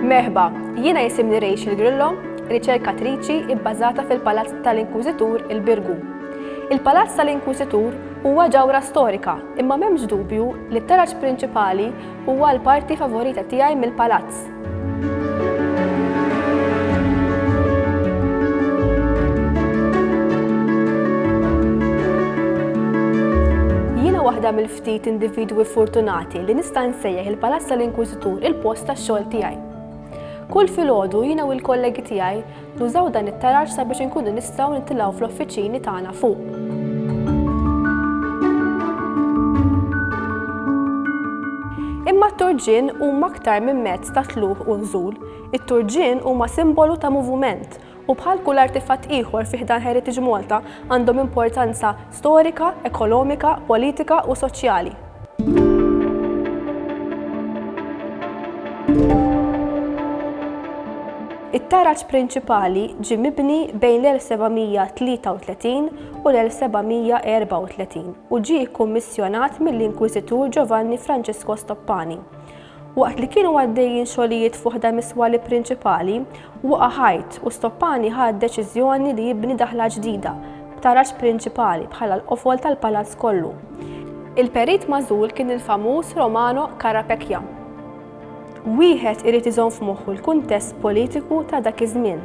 Merħba, jiena jisimni Rachel Grillo, riċerkatriċi ibbażata fil-Palazz tal-Inkwiżitur il-Birgu. Il-Palazz tal-Inkwiżitur huwa ġawra storika, imma m'hemmx dubju li t-taraġ prinċipali Huwa l-parti favorita tiegħi mill-palazz. waħda mill-ftit individwi fortunati li nista' nsejjaħ il-Palazz tal-Inkwiżitur il-post tax-xogħol tiegħi. Kull filgħodu jiena u l-kollegi tiegħi Nużaw dan it-taraġ sabiex inkunu nistgħu nitilgħu fl-uffiċini tagħna fuq. Imma t-turġien huma aktar minn mezz ta' tluħ u nżul. It-turġien huma simbolu ta' moviment u bħal kull artifatt ieħor fi ħdan Heritage Malta għandhom importanza storika, ekonomika, politika u soċjali. It-taraġ prinċipali ġie mibni bejn l-1733 u l-1734 u ġie kkummissjonat mill-Inkwiżitur Giovanni Francesco Stoppani. Waqt li kienu għaddejjin xogħlijiet fi waħda mis-swali prinċipali, waqa' ħajt u Stoppani ħa d-deċiżjoni li jibni daħla ġdida, b'taraġ prinċipali, bħala l-qofol tal-palazz kollu. Il-perit magħżul kien il-famuż Romano Carapecchia. Wieħed irid iżomm f'moħħu l-kuntest politiku ta' dak iż-żmien.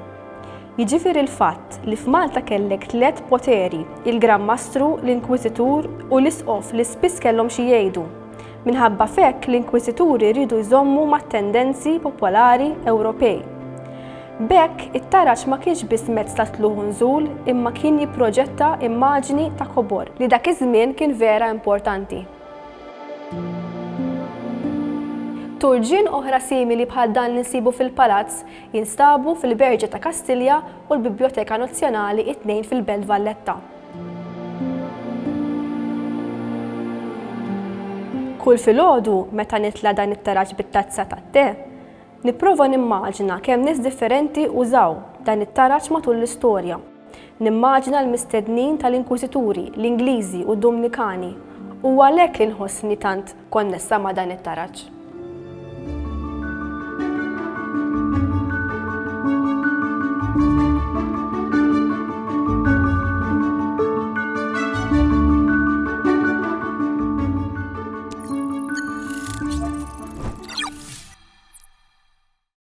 Jiġifieri l-fatt li f'Malta kellek tliet poteri, il-Gran Mastru, l-Inkwiżitur u l-Isqof li spiss kellhom xi jgħidu. Minħabba f'hekk l-Inkwiżituri riedu jżommu mat-tendenzi popolari Ewropej. B'hekk it-taraġ ma kienx biss mezz ta' tlugħ u nżul imma kien jipproġetta immaġni ta' kobor li dak iż-żmien kien vera importanti. Turġien oħra simili bħal dan li nsibu fil-Palazz Jinstabu fil-Berġa ta' Kastilja u l-Bibljoteka Nazzjonali it-tnejn fil-Belt Valletta. Kull filgħodu meta nitla' dan it-taraġ bit-tazza tat-te, nipprova nimmaġina kemm nies differenti użaw dan it-taraġ matul l-istorja. Nimmaġina l-mistednin tal-Inkwiżituri, l-Ingliżi u d-Dumnikani, u għalhekk li nħossni tant konnessa ma' dan it-taraġ.